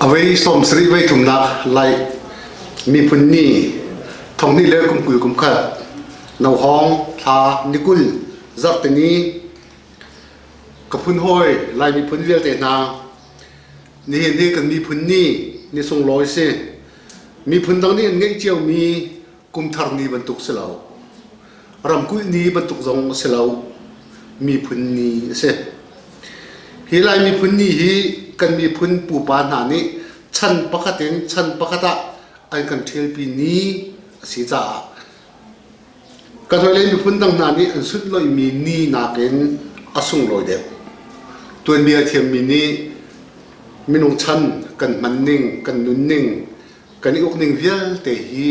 Avei sawmsarih voi tlumnak lai miphun ni thonghnih le kum kul kum khat nohawng thla nikul zarhteni kaphun hawi lai miphun vialte hna nihin hi kan miphun ni ni sunglawi si miphun dang nih an ngeih cio mi kumthar ni bantuk si lo ramkulh ni bantuk zong a si lo miphun ni a si hi lai miphun ni hi kan miphun pupa hna nih chan pakhat in chan pakhat ah an kan ṭhialpi ni a si caah kan hawile miphun dang hna nih an sunh loimi ni nakin a sunglawi deuh tuanbia thiammi nih minung chan kan hman ning kan nunning kan i ukning vialte hi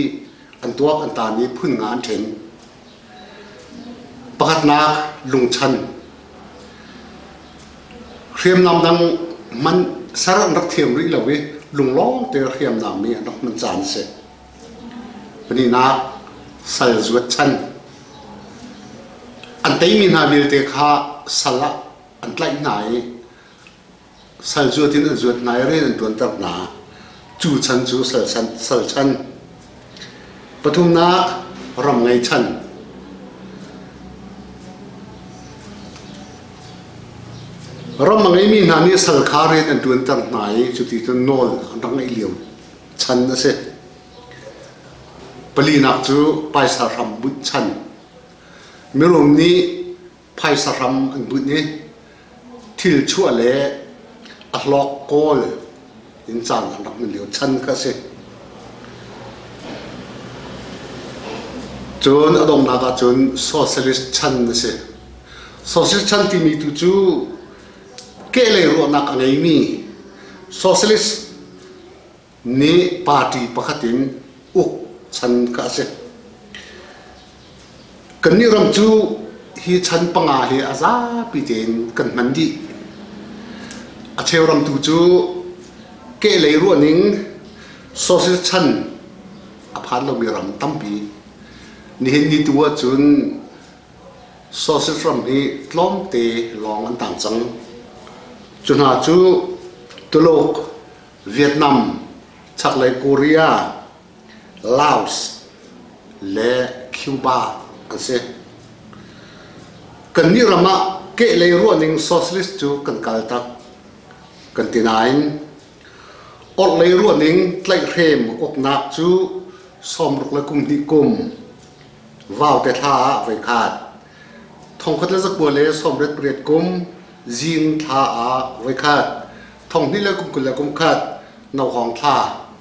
an tuak an taan i phun nga an ṭhen pakatnak lungchan hriamnam dang man ser an rak thiam rih lo i lunglawm te hriamnam mi an rak man caan si paninak sal zuat chan an teimi hna vialte kha sal ah an tlaih hna i sal zuat in an zuat hna i rian an tuanter hna cu chan cu sal chan pathumnak ram ngei chan ram a ngeimi hna nih sal kha rian an tuanter hna i cuti cun nawl an rak ngeih lio chan a si palinak cu paisa hram bunh chan mirum nih phaisa hram an bunh i thil chuah le a hlawk kawl in caan an rak man lio chan kha a si. Cun a dongnak ah cun socialist chan a si. Socialist chan timi tu cu kehlei ruahnak a ngeimi socialist nih party pakhat in uk chan ka si. Kannih ram cu hi chan panga hi a zapi tein kan hman dih. A cheu ram tu cu kehlei ruahning social chan a phan lomi ram tampi. Nihin ni tu ahcun social ram hi tlawmte lawng an tang cang. Cu hna cu Tuluk, Vietnam, chaklei Korea, Laos le Cuba an si. Kannih ram ah kehlei ruahning socialist cu kan kal tak kan ti nain orhlei ruahning tlaihhrem uknak cu sawmruk le kum hnih kum vaute thla ah voi khat Thongkhat le zakua le sawmret pariat kum zing thla ah voikhat, thonghnih le kumkul le kumkhat, nohawng thla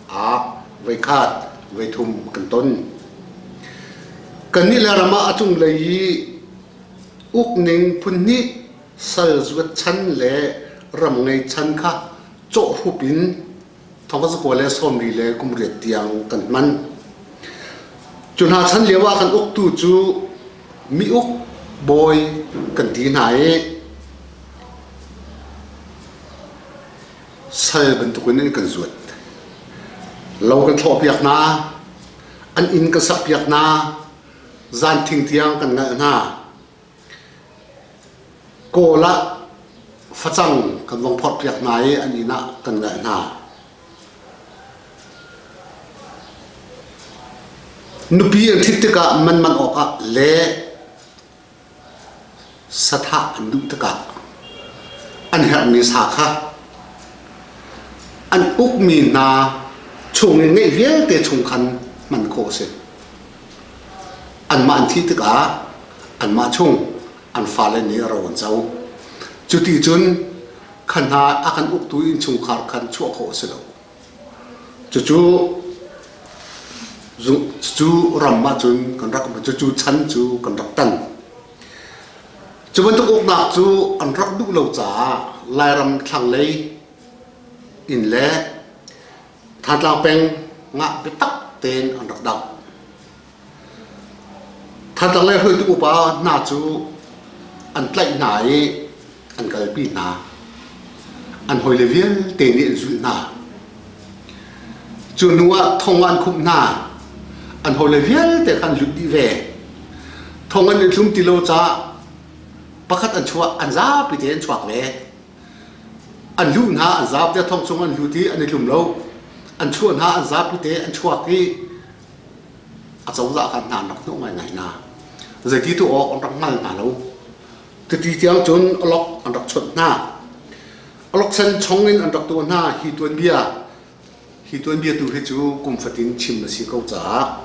ah voikhat, voithum kan ton. Kannih le ram ah a cunglei i ukning phunhnih sal zuat chan le ram ngei chan kha cawhrup in thawkzakuai le sawmri le kumriat tiang kan hman. Cu hna chan lio ah kan uktu cu mi uk bawi kan ti hna i sal bantukin in kan zuat. Lo kan thlawhpiak hna, an inn kan sakpiak hna, zan thing tiang kan ngalh hna. Kawl ah facang kan vong phorhpiak hna i an inn ah kan leh hna. Nupi an ṭhit tikah man man awkah le sathah an duh tikah an herhmi sa kha an ukmi hna chung i ngeih vialte chung khan hman khawh a si. Anmah an thih tikah anmah chung an fale nih ro an co. Cuti cun kha hna a kan uktu innchungkhar khan chuah khawh a si lo. Cucu cu ram ah cun kan rak cucu chan cu kan rak tan. Cu bantuk uknak cu an rak duh lo caah Lairam thlanglei in le Thatlang peng ngah biatak tein an rak dang. Thatlang le hruitu upa hna cu an tlaih hna i an kalpi hna. An hawile vialte nih an zulh hna. Cu hnu ah thong an khumh hna. An hawile vialte kha an lut dih ve. Thong an in hlum ti lo caah pakhat an chuah an zapi te an chuak ve. An luh hna an zap te thong chung an lut i an i tlum lo. An chuah hna an zapi te an chuak i a cozah kha hna an rak hnawh ngaingai hna. Zeiti tu awk an rak hngal hna lo. Tuti tiang cun alok an rak chawnh hna. Alok sen chong in an rak tuah hna. Hi tuanbia Hi tuanbia tu hi cu kum fatin chim a si ko caah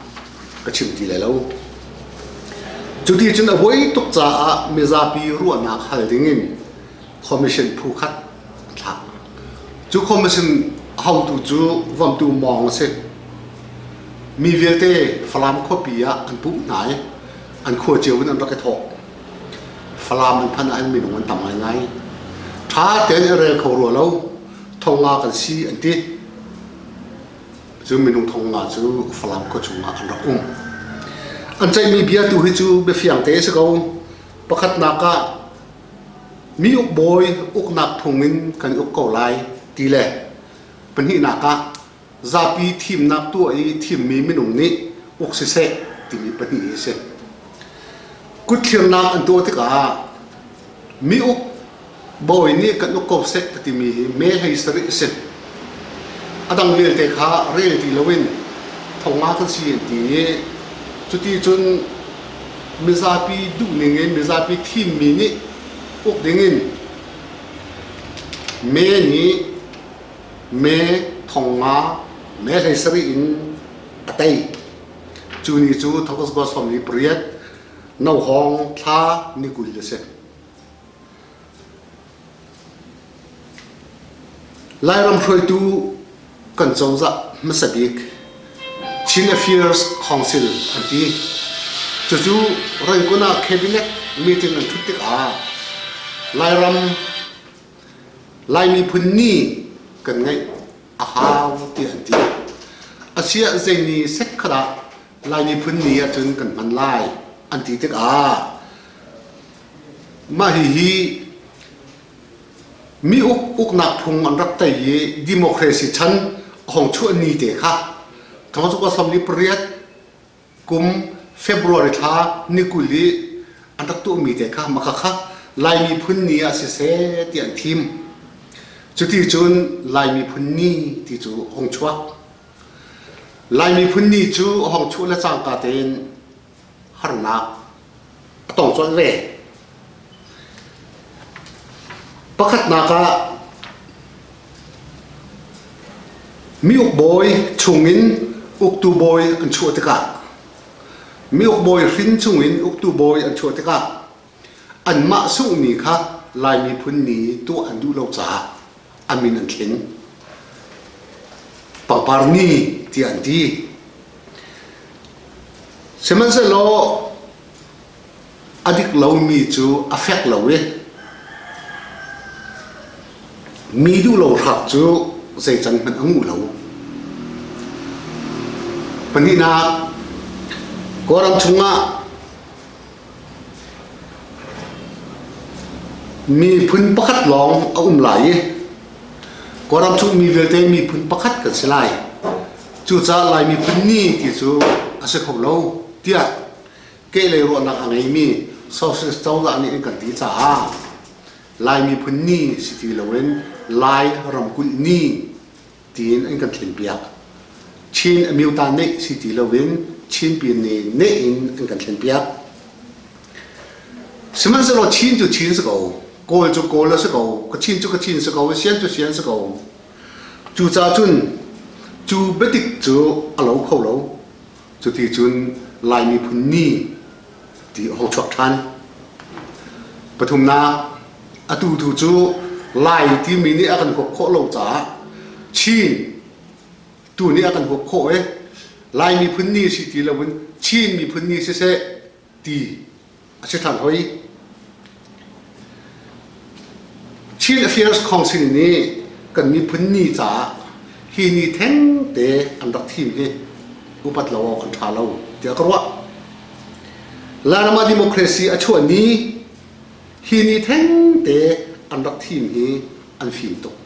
ka chim ti lai lo. Cu ti cun a huai tuk caah mizapi ruahnak hal dingin commission phu khat a thlak. Cu commission haotu cu vamtu mawng a si. Mi vialte Falam khuapi ah an puh hna i an khua cio in an rak i thawh. Falam an phan ah hin minung an tam ngaingai. Ṭha tein a rel kho rua lo. thonga kan si an ti cun minung thonga cu Falam khua chungah an rak um an ceihmi bia tu hi cu biafiang te si ko pakhatnak ah mi uk bawi uknak phung in kan uk ko lai ti le pahnihnak ah zapi thimnak tuah i thimmi minung nih uk siseh timi pahnih hi si. Kutthlirnak an tuah tikah mi uk bawi nih kan uk ko seh ka timi hi me hei sarih a si. A dang vialte kha rel ti loin thonga kan si an ti i cuti cun mizapi duhning in mizapi thimmi nih uk dingin me nih me thong nga me hleisarih in a tei cu ni cu thangtas ba sawm ni pariat no hong thla ni kul a si lairam hruaitu kan cozah hmasa bik Chin Affairs Council an ti cucu rangon ah cabinet meeting an thut tikah lairam Lai miphun nih kan ngeih a hau tiah an ti. Asiah zei ni sek khat ah Lai miphun ni ahcun kan hman lai an ti tikah mah hihi mi uk uknak phung an rak tei i democracy chan a hong chuah ni te kha thong cu samli pariat kum February thla ni kul i an rak tuahmi te kha makhakha Lai miphun ni ah siseh ti an thim. Cuti cun Lai miphun ni ti cu hong chuak. Lai miphun ni cu hong chuh le cangka tein harnak tong colh ve. Pakhatnak ah miuk bawi chungin uktu bawi an chuah tikah miuk bawi hrin chungin uktu bawi an chuah tikah anmah sunghmi kha Lai miphun ni tuah an duh lo caah an min an thling paparni ti an ti sihmanhsehlaw a dik lomi cu a fek lo i mi duh lo hrak cu zei can hmanh a nguh lo pahnihnak kawlram chungah Miphun pakhat lawng a um lai i Kawlram chungmi vialte miphun pakhat kan si lai. Cucaah Lai miphun ni ti cu a si kho lo tiah kehlei ruahnak a ngeimi Socialist cozah nih an kan ti caah Lai miphun ni si ti loin Lai ramkulh ni tiin an kan thlenpiak. Chin a myu ta neih si ti loin Chinpin nih neh in an kan thlenpiak. Sihmanhsehlaw Chin cu Chin si ko, Kawl cu Kawl a si ko, Kachin cu Kachin si ko, Sian cu Sian si ko. Cucacun cu biatik cu a lo kho lo. Cuticun Lai miphun ni ti a hung chuak ṭhan. Pathumnak, atu tu cu Lai timi nih a kan huap khawh lo caah Chin tu nih a kan huap khawh i Lai miphun ni si ti loin Chin miphun ni siseh, ti a si than hoi. Chin Affairs Council nih kan miphun ni caah hi ni thengte an rak thim hi upat lo kan tha lo tiah ka ruah. Lanama democracy a chuah ni hi ni thengte an rak thim hi an fim tuk.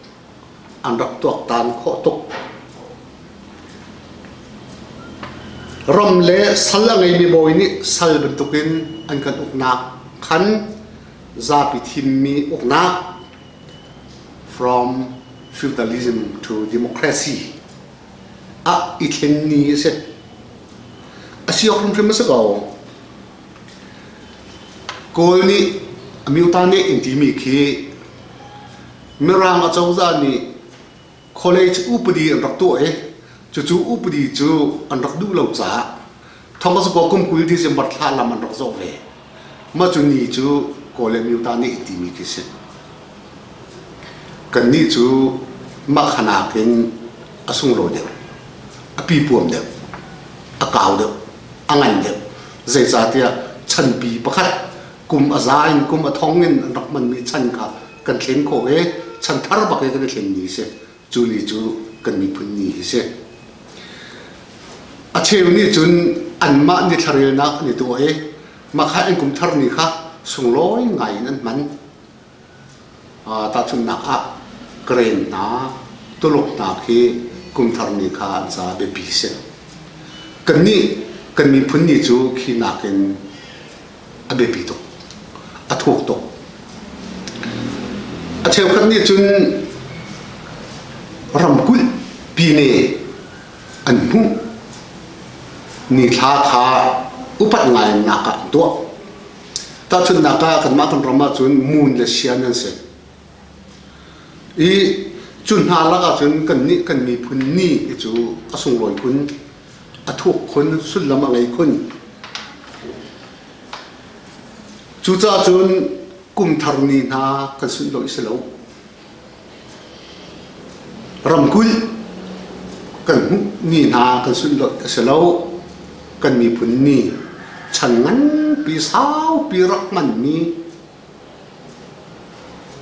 an rak tuaktan khawh tuk. Ram le sal a ngeimi bawi nih sal bantukin an kan uknak khan zapi thimmi uknak from feudalism to democracy ah i thleng ni a si. A si hrimhrim a si ko. Kawl nih, a miuta nih in timi khi Mirang acozah nih college upadi an rak tuah i cucu upadi cu an rak duh lo caah Thomas Go kum kul December thla lam an rak zawh ve. Mah cu ni cu Kaw le Myo ta nih timi khi si. Kannih cu mah khanak in a sunglawi deuh, a pipuam deuh, a kau deuh, a ngan deuh. Zeicahtiah chanpi pakhat kum a za in kum a thong in an rak hmanmi chan kha kan thlen khawh i chan thar bak in kan i thlenmi a si cu ni cu kan miphun ni hi si a cheu nih cun anmah nih thlarelnak an i tuah i makhai an kum thar ni kha sunglawi ngai in an hman tahchunhnak ah karen hna tuluk hna khi kumthar ni kha an ca biapi si kan nih kan miphun ni cu khi nakin a biapi tuk, a thuk tuk. A cheukhat nih cun ramkulh pi ne an hmuh ni thla kha upat ngainak ah an tuah. Tahchunnak ah kanmah kan ram ahcun moon le sian an si. I cu hna lakah cun kan nih kan miphun ni hi cu a sunglawi phun a thuk khun, sullam a ngei khun. Cucaah cun kumthar ni hna kan sunh lo i si lo. Ramkulh kan hmuh ni hna kan sunh lo a si lo. Kan miphun ni chan nganpi saupi rak hmanmi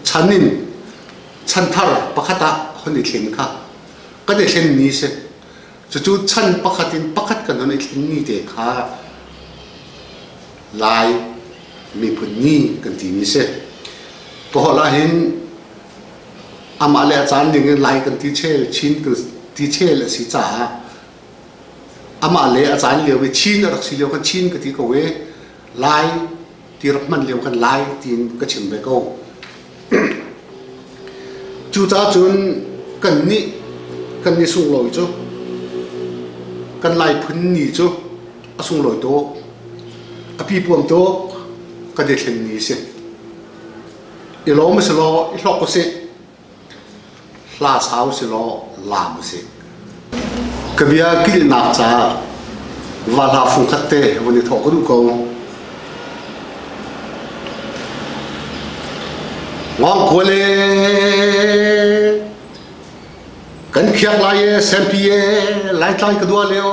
chan in chanthar pakhat ah kan i thleng kha kan i thleng ni si Cucu chan pakhat in pakhat kan on i tlingmi te kha Lai miphun ni kan timi si. Kaholh ahhin amah le a caan ding in Lai kan ti chel Chin kan ti chel a si caah amah le a caan lio i Chin a rak si lio khan Chin ka ti ko i Lai ti rak hman lio kan lai tiin ka chim ve ko cucaah cun kan nih kan nih sunglawi cu kan lai phun ni cu a sunglawi tuk a pipuam tuk ka dethlen ni a si i lawm a si law i hlok u sih Hla sau si law laam usih. Ka bia kilhnak ca va hla fung khat te van i thawh ka duh ko. Ngong kua le kan khiak lai e sempi e lai tlai ka dua leo